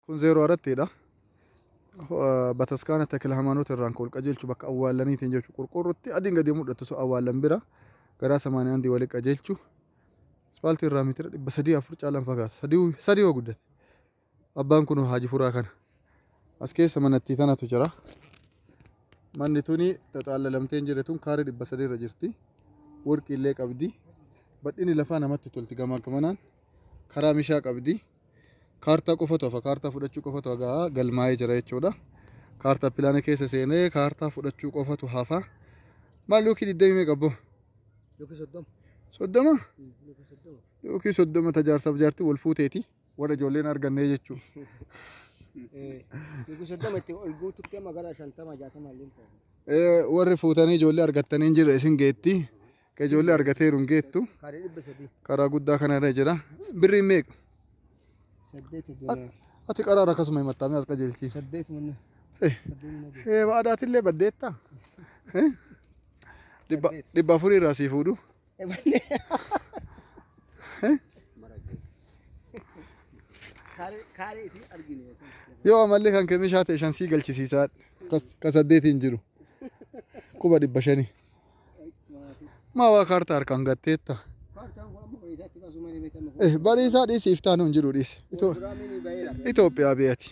Kun zeeroo arattiidha. Bataskaana Takila Hamaanoota irraan ka ol qajeelchu bakka awwaallaniitiin jechu qurqurrutti adiin gadi mul'attu sun awwaallan bira garaa samaanii andii wali qajeelchu ispaaltii irraa meetira dhibba sadii afur caalaan fagaata sadii yoo guddate abbaan kun haaji furaa kana as keessa manattii tanatu jira manni tuni xaxaallalamtee hin jirre tun kaaree dhibba sadii irra jirti warqii illee qabdi badhini lafaa namatti tolti gamaa gamanaan karaa mishaa qabdi kaartaa qofatu hafa kaartaa fudhachuu qofatu hagaa galmaa'ee jira jechuudha kaartaa pilaana keessa seenee kaartaa fudhachuu qofatu hafa maal lookii digdamii meeqa abboo Yookiin soddoma. soddoma Mm, Yookiin soddoma. lookii soddoma tajaarsaaf jaarti wal fuuteeti warra ijoolleen argannee jechuu Eh, Yookiin soddoma itti ol guututti amma gara shantama jaatama illee hin ta'u. Eh, warri fuutanii ijoollee argattanii hin jirre isin geetti Ka ijoollee argateeru hin geettu. Kaaree dhibba sadii. Karaa guddaa kana irra jira. Birrii meeqa? Saddeet At- Ati qaraara akkasuma himattaamee as qajeelchiif. saddeet manni. Eh, eh, Waadaatillee baddeetta. Eh? Dhibba dhibba afurii irraa sii fuudhu. Kaaree kaaree isii argine. Yoo amallee kan kemishaa ta'e shan sii galchisiisaa. Kas- Ka saddeetiin jiru. Quba dhibba shanii. Maa waa kaartaa harkaan gatteetta. Eh, Bariisaa dhiisi iftaan hin jiru dhiisi. Ito- Itoophiyaa biyati.